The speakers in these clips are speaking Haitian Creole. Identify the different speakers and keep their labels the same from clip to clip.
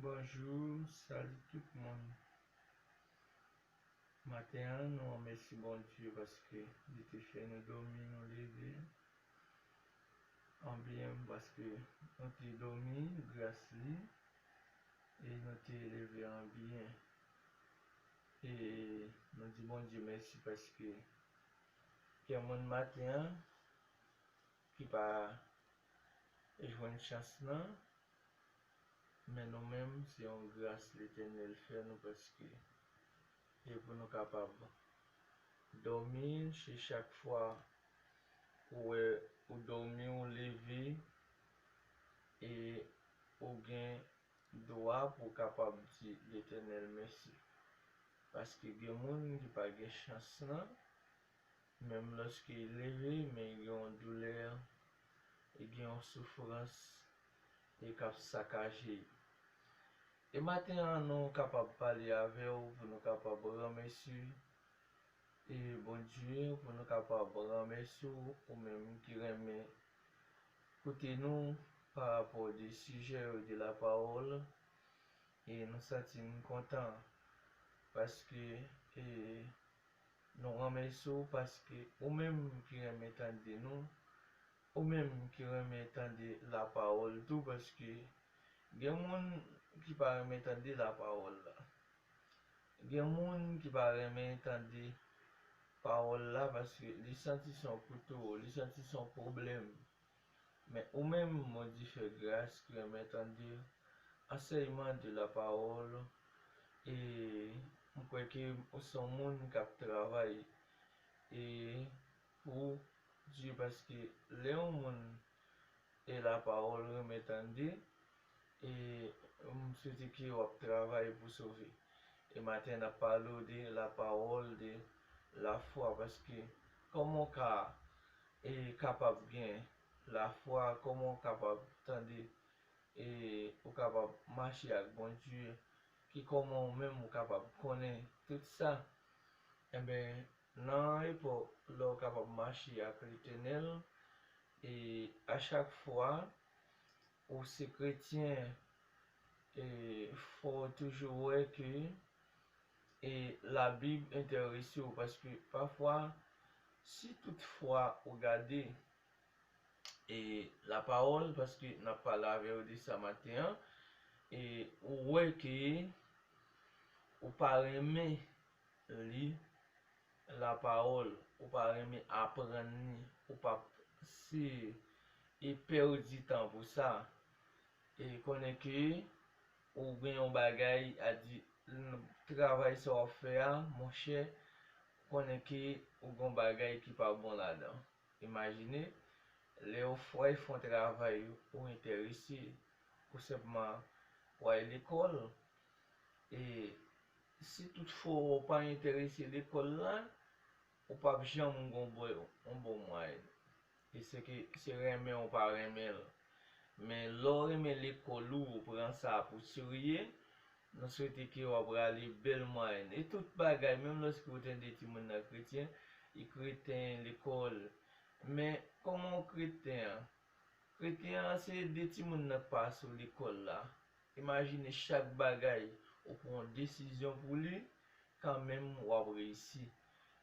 Speaker 1: Bonjour salut tout moun maten an nou remèsi Bondye paske li te fè nou domi nou leve anbyen paske nou te domi gras li e nou te leve anbyen e nou di Bondye mèsi paske gen moun maten an ki pa jwenn chans nan men nou menm se yon gras letènèl fè nou paske e pou nou kapab dòmi se chak fwa ou wè ou dòmi ou leve e ou gen dwa pou w kapab di letènèl mèsi paske gen moun ki pa gen chans nan Menm lòske l leve, men gen yon doulè, e gen yon soufrans e k ap sakaje l. E maten an nou kapab pale avè w pou nou kapab ranmèsye e Bondye, pou nou kapab ranmèsye w ou menm ki renmen koute nou pa rapò de sijè yo de la pawòl e nou santi n kontan paske e Nou renmèsi w paske ou menm ki renmen tande nou, ou menm ki renmen tande lapawòl tou paske gen moun ki pa renmen tande lapawòl la. Gen moun ki pa renmen tande pawòl la paske li santi se yon kouto, li santi se yon pwoblèm. Men ou menm mon Di fè gras ki renmen tande ansèyman de la parole e m kwè ke ou son moun kap travay e pou Dye paske lè yon moun e la parole renmen tande e m swete ke wap travay pou sove e maten nap pale w de la parole de la foi paske koman w ka e kapab gen lafwa kòman ou kapab tande e ou kapab mache ak Bondye ki kòman ou menm ou kapab konnen tout sa enben nan epòk lè ou kapab mache ak Letènèl e a chak fwa ou se kretyen e fòw toujou wè ke e labib entèrese w paske pafwa si tout fwa ou gade e lapawòl paske n ap pale avè w de sa maten an e ou wè ke ou pa renmen li lapawòl ou pa renmen aprann ni ou p ap se e pèdi tan pou sa e konnen ke Ou gen yon bagay a di nan travay sa wap fè a monchè konnen ke ou gen yon bagay ki pa bon ladan. Imajine lè yo fway fon travay ou entèrese pou senpman pou al lekòl e si tout fwa ou pa entèrese lekòl la Ou pap janm gon boy on bon mway e se ke se renmen ou pa renmen l men lè w renmen lekòl ou ou pran sa pou serye nou swete ke w ap rale bèl mwayèn e tout bagay menm lòske ou tande timoun nan kretyen li kreten lekòl men kòman w kreten an kreten an se de timoun nan k pa sou lekòl la. Imajine chak bagay ou pran yon desizyon pou li kanmenm wap reyisi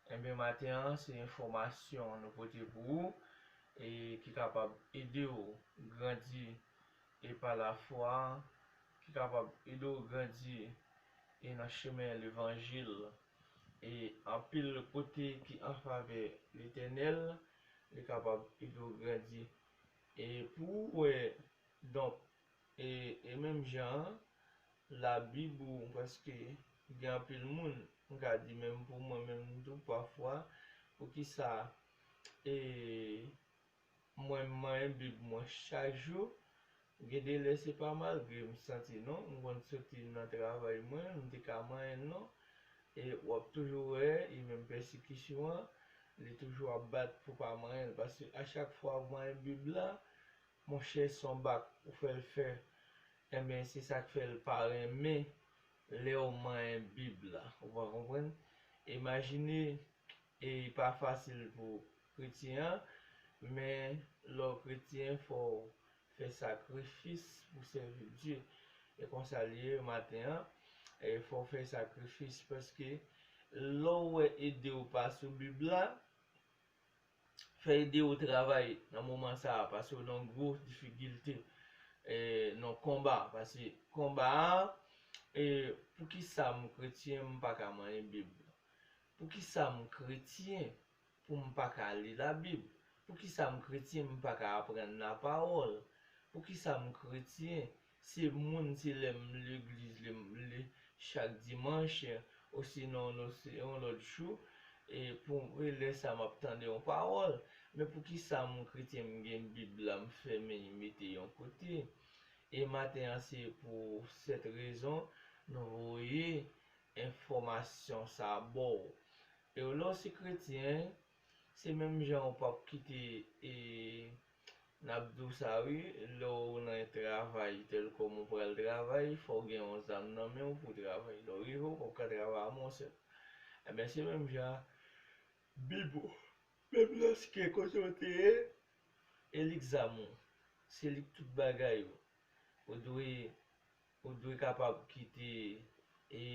Speaker 1: Enben maten an se enfòmasyon nou pote pou ou e ki kapab ede w grandi e pa lafwa ki kapab ede w grandi e nan chemen levanjil e anpil kote ki an favè Letènèl li kapab ede w grandi e pou ou wè donk E menm jan an, Labib ou paske gen anpil moun, m ka di menm pou mwen menm tou pafwa, poukisa mwen m manyen Bib mwen chak jou? Gen de lè se pa malgre m santi non, m konn soti nan travay mwen, m te ka manyen l non. E w ap toujou wè, e menm pèsikisyon an, li toujou ap bat pou w pa manyen l. Paske achak fwa ou manyen Bib la, Monchè son bak ou fèl fè enben se sak fèl pa renmen lèw manyen bib la ou pa konprann imajine e pa fasil pou kretyen an men lèw kretyen fòw fè sakrifis pou sèvi Bdye e konsa liye maten an e fòw fè sakrifis paske lèw wè idew pa sou bib la fè ede ou travay nan moman sa a pase ou nan gwo difigilte nan konba pase konba a e poukisa m kretyen m pa ka manyen bib poukisa m kretyen pou m pa ka li la bib poukisa m kretyen m pa ka aprann la pawòl poukisa m kretyen Se moun se lè m legliz lè m le chak dimanch osinon no se yon lòt jou e pou e lè sa map tande yon pawòl men poukisa moun kretyen m gen bib la m fèmen m mete yon kote e maten an se pou sèt rezon nou voye enfòmasyon sa baw e w lè w se kretyen Se menm jan ou pap kite e nap di w sa wi lè w nan yon travay telkom ou pral travay fò w gen yon zam nan men w pou w travay lè w rive ou pap ka travay a mon sè enben se menm jan a bib ou menm lèske kote w te ye e li k zam ou se li k tout bagay ou ou dwe ou dwe kapab kite e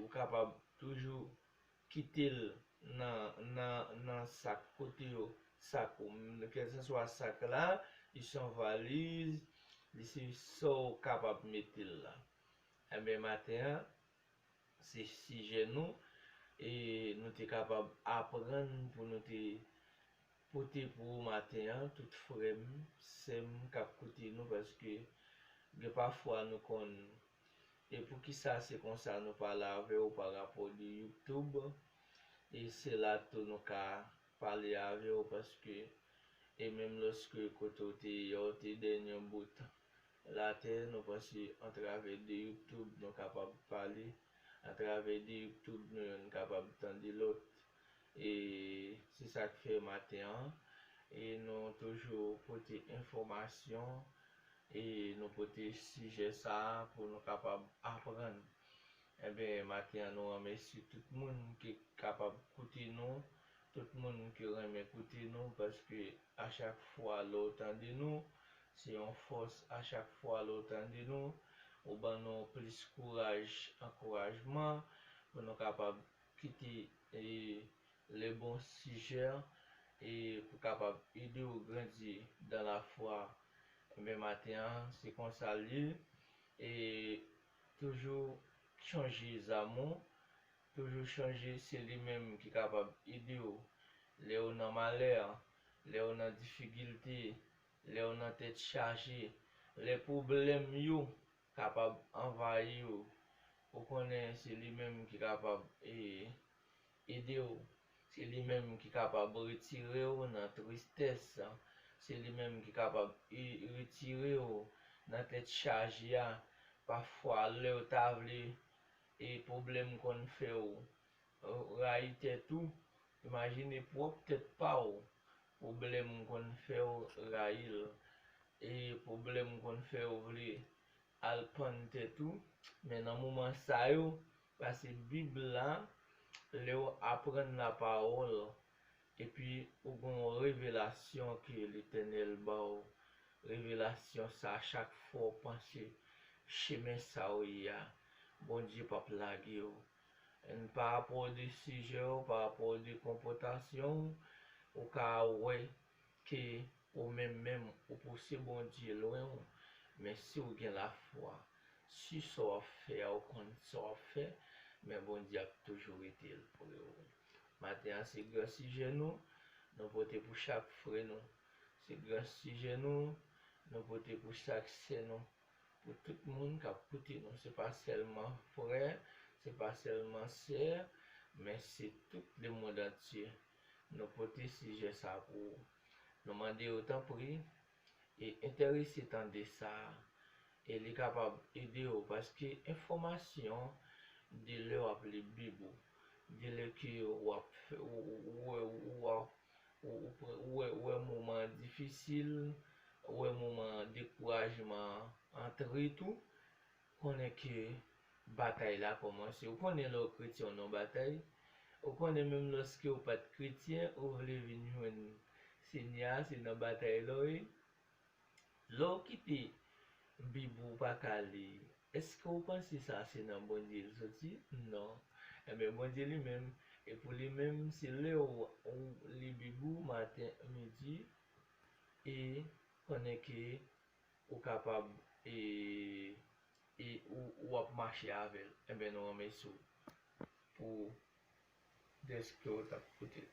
Speaker 1: ou kapab toujou kite l nan nan nan sak kote yo sak ou kèlsanswa sak la li se yon valiz li se sa w kapab mete l la enben maten an se sijè nou e nou te kapab aprann pou nou te pote pou ou maten an tout frè m sè m k ap koute nou paske gen pafwa nou konn E poukisa se konsa nou pa lave ou pa rapò de youtube e se la tou nou ka pale ave ou paske e menm loske kote ou te ye ou te dèn yon bout latè nou panse antrave de youtube nou kapab pale antrave de youtube nou yonn kapab tande lòt e se sak fè maten an e nou toujou pote enfòmasyon E nou pote sijè sa a pou nou kapab aprann. Enben, maten an nou remèsye tout moun ki kapab koute nou, tout moun ki renmen koute nou, paske a chak fwa lè w tande nou, se yon fòs, a chak fwa lè w tande nou, ou ban nou plis kouraj, ankourajman, pou nou kapab kite Le bon suger e pou kapab ede ou grandi dan la fwa enben maten an se konsa l ye e toujou chonje zamou toujou chonje se li menm ki kapab ede ou lè ou nan malè lè ou nan difigilte lè ou nan tèt chaje lè pwoblèm yo kapab anvayi w, ou konnen se li menm ki kapab ede w, se li menm ki kapab retire w nan tristès, se li menm ki kapab retire w nan tèt chaje a, pafwa lè w ta vle pwoblèm konn fè w Ou rayi tèt ou? Imajine pwòp tèt pa w. Pwoblèm konn fè w rayi l. E pwoblèm konn fè w vle al pann tèt ou. Men nan moman sa yo, pase Bib la, lè w aprann lapawòl, epi ou gen yon revelasyon ke Letènèl ba w, revelasyon sa a chak fwa w panse chemen sa w ye a, Bondye p ap lage w. And pa rapò de sijè w, pa rapò de konpòtasyon w, ou ka wè ke ou menm menm ou pouse Bondye lwen w, men si w gen lafwa su sa w ap fè a, ou konn sa w ap fè, men Bondye ap toujou rete l pre w. Maten an se gran sijè nou, nou pote pou chak frè nou. Se gran sijè nou, nou pote pou chak sè nou. pou tout moun kap koute nou se pa sèlman frè se pa sèlman sè men se tout le mond antye nou pote sijè sa pou ou nou mande ou tanpri e entèrese tande sa e li kapab ede ou paske enfòmasyon de lè wap li bib ou de lè ke wap ou wè ou Ou wè moman an difisil, ou wè moman dekourajman an antre tou, konnen ke batay la kòmanse. Ou konnen lè w kretyen w nan w batay, ou konnen menm lòske w pa t kretyen, ou vle vin jwenn Senyè a, se nan batay la w ye, Lè w kite Bib ou pa ka li, èske w panse sa se nan Bondye l soti? Non. Enben, Bondye li menm, e pou li menm, se lè w li Bib ou maten, midi, e pandan ke ou kapab e e ou ap mache avè l. Enben, nou ranmèsi w pou dèske ou t ap koute l.